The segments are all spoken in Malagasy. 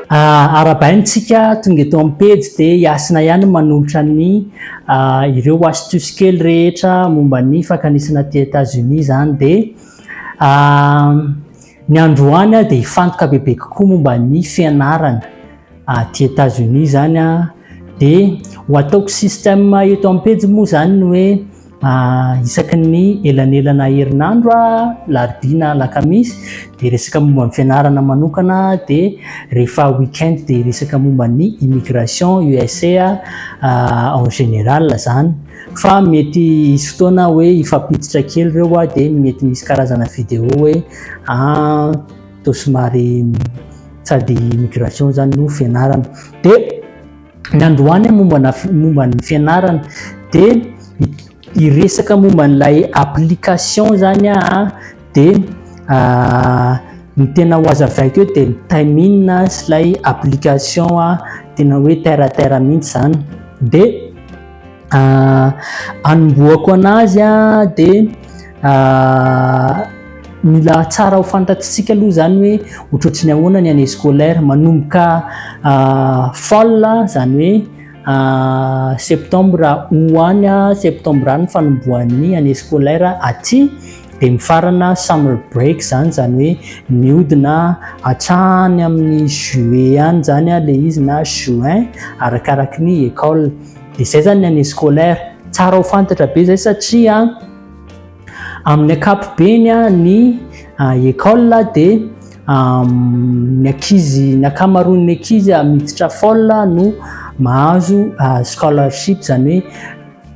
Ah, arabainy tsika tonga eto amin'ny pejy dia hiasina ihany manolotra ny ah, ireo astuce kely rehetra momba ny fakanisana aty États-Unis izany dia ah, ny androany dia hifantoka bebe kokoa momba ny fianarana aty États-Unis izany dia ho ataoko système eto amin'ny pejy moa izany ny hoe Isaky ny elanelana herinandro, alarobia na alakamisy, dia resaka momba ny fianarana manokana, dia rehefa week-end dia resaka momba ny immigration USA en général izany. Fa mety hisy fotoana hoe hifampiditra kely ireo dia mety misy karazana vidéo hoe somary sady immigration izany no fianarana. Ny androany momba momba ny fianarana dia hiresaka momba an'ilay application izany aho dia ah, ny tena ho azavaiko eo dia ny timing sy ilay application tena hoe terre à terre mihitsy izany dia anombohako ah, anazy ah, de ah, mila tsara ho fantatsika aloha zany hoe otrotry ny ahoana ny année scolaire manomboka fall zany hoe septembre hoany septembre any fanombohan'ny année scolaire aty de mifarana summer break zany zany hoe miodina atrany amin'ny juillet any zany le izy na juin arakaraky ny école Dia zay zany ny année scolaire. Tsara ho fantatra be zay satria amin'ny ankapobeny ny école dia ny ankizy ny ankamaroan'ny ankizy miditra fol no mahazo scholarship izany hoe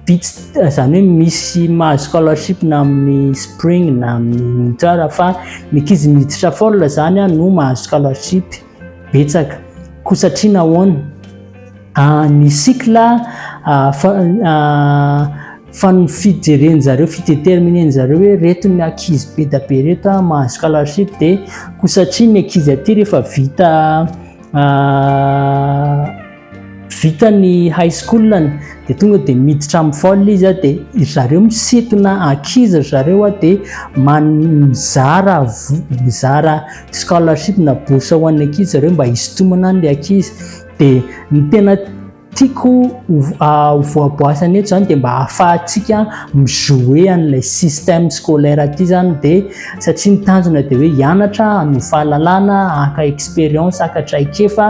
bitsy izany hoe misy mahazo scholarship na amin'ny spring na amin'ny tsara fa ny ankizy miditra fol izany no mahazo scholarship. Betsaka. Koa satria nahoana? Ah, ny cycle ah, ah, fa ny fijerenjareo, fideterminenjareo hoe reto ny ankizy be da be reto ah, mahazo scholarship dia koa satria ny ankizy aty rehefa vita ah, Vita ny high school-ny dia tonga dia miditra amin'ny folle izy a, dia ry zareo misintona ankizy ry zareo a, dia man- mizara vo- mizara scholarship na bourse ho an'ny ankizy zareo mba hisintomana an'ilay ankizy, dia ny tena tiako ho- ho voaboasana eto izany dia mba ahafahantsika mi-jouer an'ilay système scolaire aty izany dia satria ny tanjona dia hoe hianatra, hanovo fahalalana, haka expérience, haka traikefa.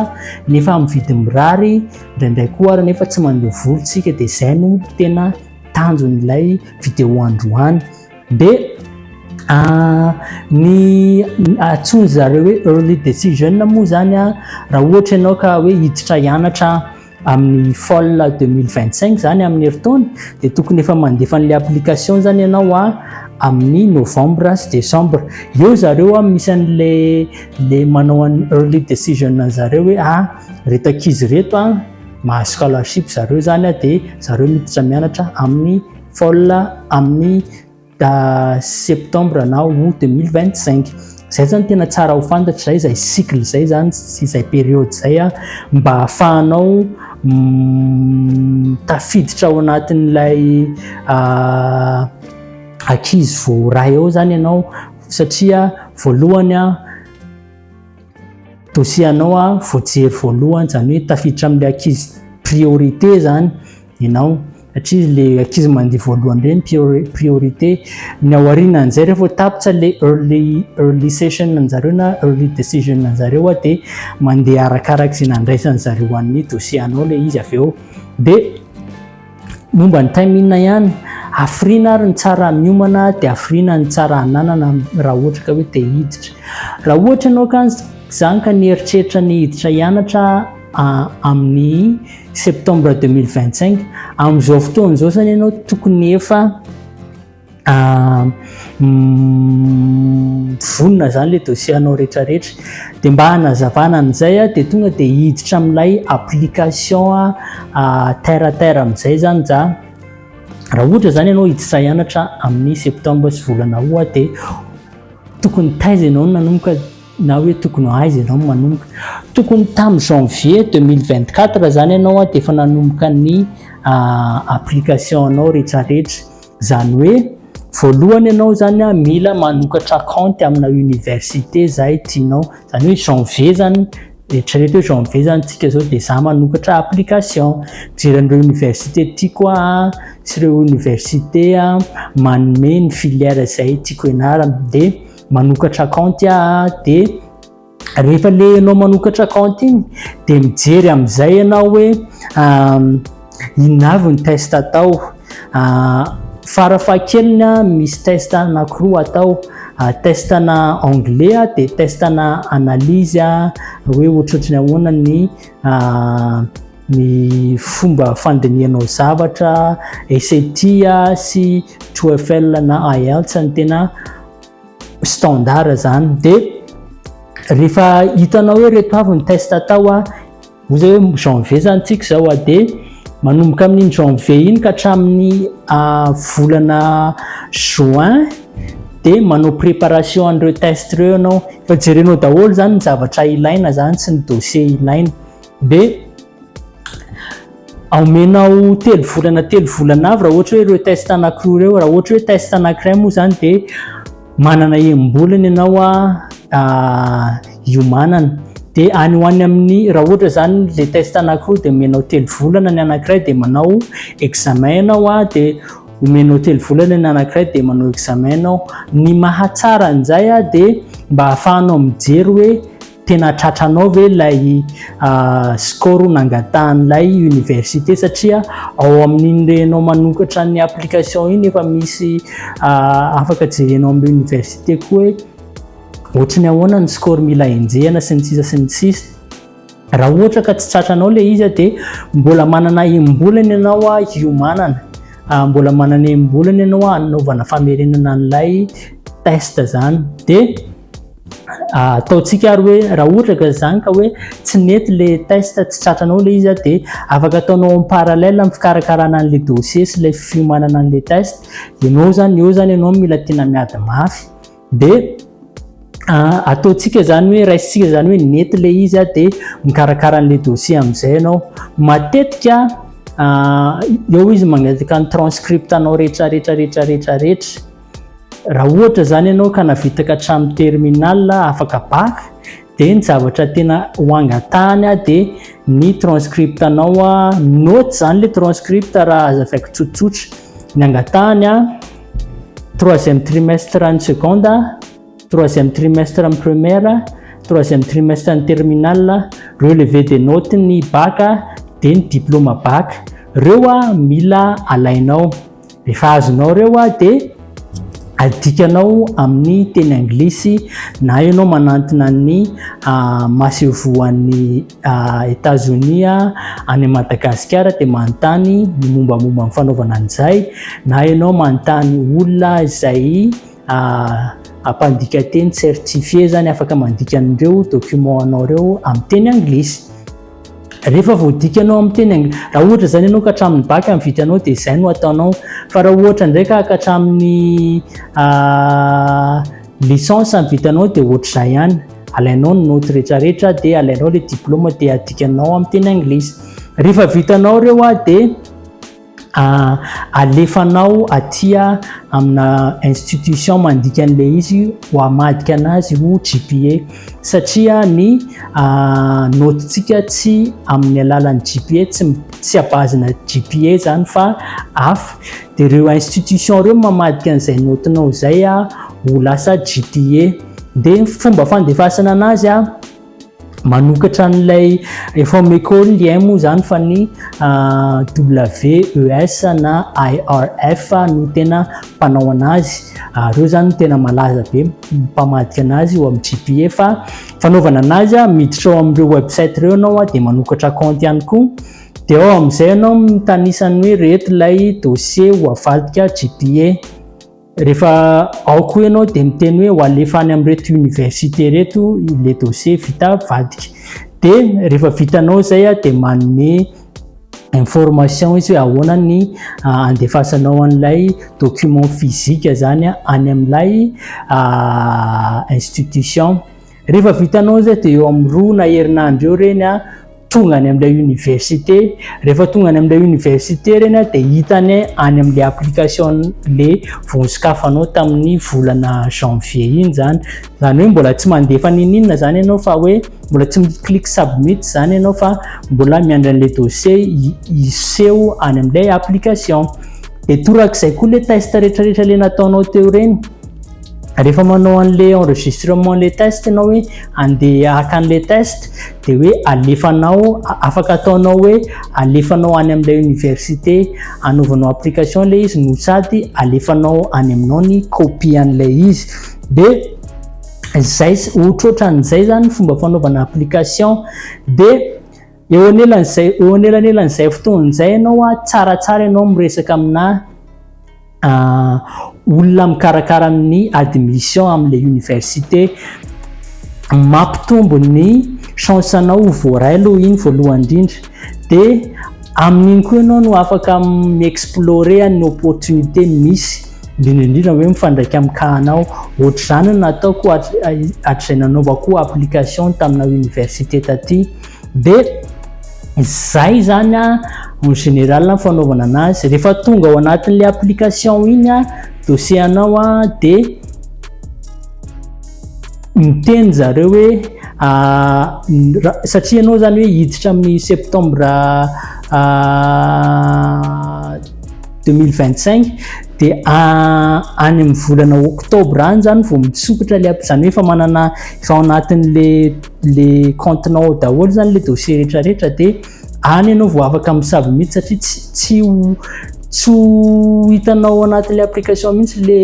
nefa amin'ny vidiny mirary indraindray koa ary nefa tsy mandeha vory tsika dia izay no tena tanjon'ilay vidéo androany dia ah, ny atsoiny zareo hoe early decision moa zany a raha ohatra ianao ka hoe hiditra hianatra amin'ny fol 2025 zany amin'ny heritaona dia tokony efa mandefa an'la application zany ianao a amin'ny novembre sy décembre eo zareo a misy an'la le manao an'ny early decision an'i zareo hoe ah reto ankizy reto a mahazo scholarship zareo zany a dia zareo miditra mianatra amin'ny fall amin'ny septembre na août 2025 zay zany tena tsara ho fantatra zay zay cycle zay zany sy zay période zay a mba hahafahanao tafiditra ao anatin'ilay ankizy vao ray ao zany ianao Satria voalohany aho dossier anao aho voajery voalohany izany hoe tafiditra amin'ilay ankizy priorité izany ianao satria ilay ankizy mandeha voalohany ireny priorité ny ao aorianan'izay rehefa ho tapitra ilay early early session anjareo na early decision anjareo aho dia mandeha arakaraka izay nandraisan'ny zareo an'ny dossier anao ilay izy avy eo dia Momba ny time inona ihany, hafiriana ary ny tsara miomana dia hafiriana ny tsara hananana raha ohatra ka hoe te hiditra. Raha ohatra ianao ka zany ka nieritreritra ny hiditra hianatra amin'ny septembre deux mille vingt cinq, amin'izao fotoana izao zany ianao tokony efa. Ah, mm, vonona zany le dossier anao rehetrarehetra de mba hanazavana an'izay a de tonga de hiditra amin'ilay application a ah, terre à terre amin'izay zany za raha ohatra zany ianao hiditra hianatra amin'ny septembre sy volana août a de tokony taiza ianao no nanomboka na hoe tokony ho aiza ianao no manomboka tokony tamin'ny janvier 2024 zany ianao a de efa nanomboka ny ah, application anao rehetrarehetra Zany hoe voalohany ianao zany a mila manokatra kaonty amina université zay tianao, zany hoe janvier zany, eritrereto hoe janvier zany tsika zao de za manokatra application, mijery an'ireo université tiako aho a, sy ireo université manome ny filière zay tiako hianarana de manokatra kaonty aho de. rehefa le ianao manokatra compte iny dia mijery amin'izay ianao hoe inona avy ny test atao farafahakeliny a misy test anankiroa atao test ana anglais a dia test ana analyse a hoe ohatrohatry ny ahoana ny ny fomba fandinihanao zavatra SAT a sy TOEFL na IELTS ny tena standard izany dia rehefa hitanao hoe reto avy ny test atao a hoy zay hoe janvier zany tsika izao a dia manomboka amin'iny janvier iny ka hatramin'ny volana juin dia manao préparation an'ireo test ireo ianao fa jerenao daholo izany ny zavatra ilaina izany sy ny dossier ilaina dia aomenao telo volana telo volana avy raha ohatra hoe ireo test anankiroa ireo raha ohatra hoe test anankiray moa izany dia manana enim-bolana ianao a ah, hiomanana dia any ho any amin'ny raha ohatra izany le test anankiroa dia omenao telo volana ny anankiray dia manao examen ianao a dia omenao telo volana ny anankiray dia manao examen ianao ny mahatsara an'izay a dia mba ahafahanao mijery hoe tena tratranao ve ilay ah, score nangatahan'ilay université satria ao amin'iny renao manokatra ny application iny efa misy ah, afaka jerenao amin'ny université koa hoe ohatry ny ahoana ny score mila enjehana sy ny sisa sy ny sisa raha ohatra ka tsy tratranao le izy dia mbola manana embolana ianao a hiomanana ah, mbola manana embolana ianao a hanaovana famerenana an'ilay test zany dia Ah, ataontsika ary hoe raha ohatra ka izany ka hoe tsy nety le test tsy tratranao le izy de afaka ataonao en parallèle amin'ny fikarakarana an'le dossier sy le fiomanana an'le test ianao zany eo zany ianao mila tena miady mafy de ah, ataontsika zany hoe raisintsika zany hoe nety le izy de mikarakara an'le dossier amin'izay ianao matetika ah, eo izy magnataka ny transcript anao rehetra rehetra rehetra rehetra rehetra Raha ohatra izany ianao ka navitaka hatramin'ny terminal afaka bac dia ny zavatra tena ho angatahany dia ny transcript anao note izany ilay transcript raha azavaiko tsotsotra. Ny angatahany troisième trimestre ny seconde, troisième trimestre ny première, troisième trimestre ny terminal, relevé des notes ny bac dia ny diplôme bac. Ireo mila alainao. Rehefa azonao ireo ah, dia adikanao amin'ny teny anglisy na ianao manantona ny ah, masevoan'ny ah, Etazonia any Madagasikara dia manontany ny mombamomba ny fanaovana an'izay na ianao manontany olona izay Mpandika teny certifié izany afaka mandika an'ireo documents anao ireo amin'ny teny anglisy. Rehefa voadikanao amin'ny teny anglisy, raha ohatra izany ianao ka hatramin'ny bac ny vitanao dia izay no ataonao. Fa raha ohatra indray ka ka hatramin'ny licence ny vitanao dia ohatr'izay ihany. Alainao ny notes rehetrarehetra dia alainao ilay diplôma dia adikanao amin'ny teny anglisy. Rehefa vitanao ireo dia... Alefanao atia amina institution mandika an'ilay izy ho hamadika anazy ho GPA satria ny naotintsika tsy amin'ny alalan'ny GPA, tsy tsy à base na GPA izany fa hafa. Dia ireo institution ireo mamadika an'izay naotinao izay ho lasa GPA. Dia ny fomba fandefasana anazy a! manokatra an'ilay efa meko lien moa zany fa ny ah, WES na IRF no tena mpanao anazy ah, reo zany tena malaza be mpamadika anazy eo amin'ny GPA fa fanaovana anazy ah, miditra ao amin'ireo website reo ianao ah, dia manokatra compte ihany koa dia ao amin'izay ianao mitanisany hoe reto ilay dossier ho avadika GPA Rehefa ao koa ianao dia miteny hoe ho alefa any amin'ireto université ireto ilay dossier vita vadika. Dia rehefa vitanao izay dia manome information izy hoe ahoana ny andefasanao an'ilay document physique izany any amin'ilay institution. Rehefa vitanao izay dia eo amin'ny roa na herinandro eo ireny tonga any amin'ilay université. Rehefa tonga any amin'ilay université ireny dia hitany any amin'ilay application ilay voa sokafanao tamin'ny volana janvier iny izany. Izany hoe mbola tsy mandefa n'inon'inona izany ianao fa hoe mbola tsy mi-click submit izany ianao fa mbola miandry an'ilay dossier hiseho any amin'ilay application. Dia torak'izay koa ilay test rehetrarehetra ilay nataonao teo ireny. rehefa manao an'le enregistrement le test ianao hoe andeha haka an'le test dia hoe alefanao afaka ataonao hoe alefanao any amin'ilay université anaovanao application ilay izy no sady alefanao any aminao ny copie an'ilay izy dia izay ohatrohatran'izay zany fomba fanaovana application dia Eo anelan'izay, eo anelanelan'izay fotoana izay ianao an, tsaratsara ianao miresaka aminà olona mikarakara ny admission amin'ilay université. Mampitombo ny chance-nao ho voaray aloha iny voalohany indrindra. Dia amin'iny koa ianao no afaka mi-explorer ny opportunité misy, indrindra indrindra hoe mifandraika amin'ny cas-nao. Hoatr'izany no nataoko hatrizay nanaovako application tamina université taty. Dia izay izany en général ny fanaovana anazy. Rehefa tonga ao anatin'ilay application iny dossier anao dia miteny zareo hoe satria ianao izany hoe hiditra amin'ny septembre 2025 dia any amin'ny volana octobre any izany vao misokatra ilay, izany hoe efa manana, efa ao anatin'ilay. le compte nao ao daholo zany le dossier rehetra rehetra de any ianao vao afaka misabo mihitsy satria tsy tsy ho tsy ho hitanao anatin'le application mihitsy le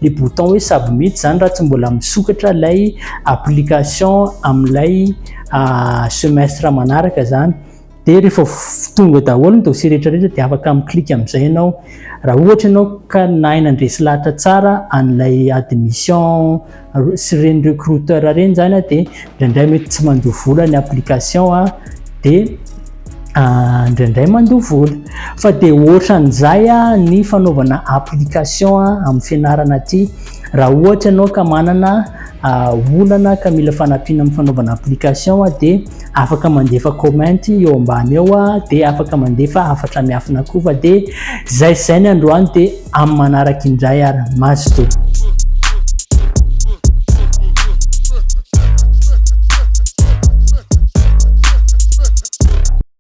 le bouton hoe sabo mihitsy zany raha tsy mbola misokatra ilay application amin'ilay ah, semestre manaraka zany dia rehefa tonga daholo ny dossier rehetra rehetra dia afaka mi-clique amin'izay ianao raha ohatra ianao ka nahay nandresy lahatra tsara an'ilay admission sy ireny recruteur ireny izany a dia indraindray mety tsy mandoa vola ny application a dia ah, indraindray mandoa vola fa dia ohatran'izay a ny fanaovana application a amin'ny fianarana aty raha ohatra ianao ka manana ah, olana ka mila fanampiana amin'ny fanaovana application a dia afaka mandefa comment eo ambany eo ah, de afaka mandefa hafatra miafina koa fa de zay zay ny androany de amin'ny manaraka indray ary mazotoa.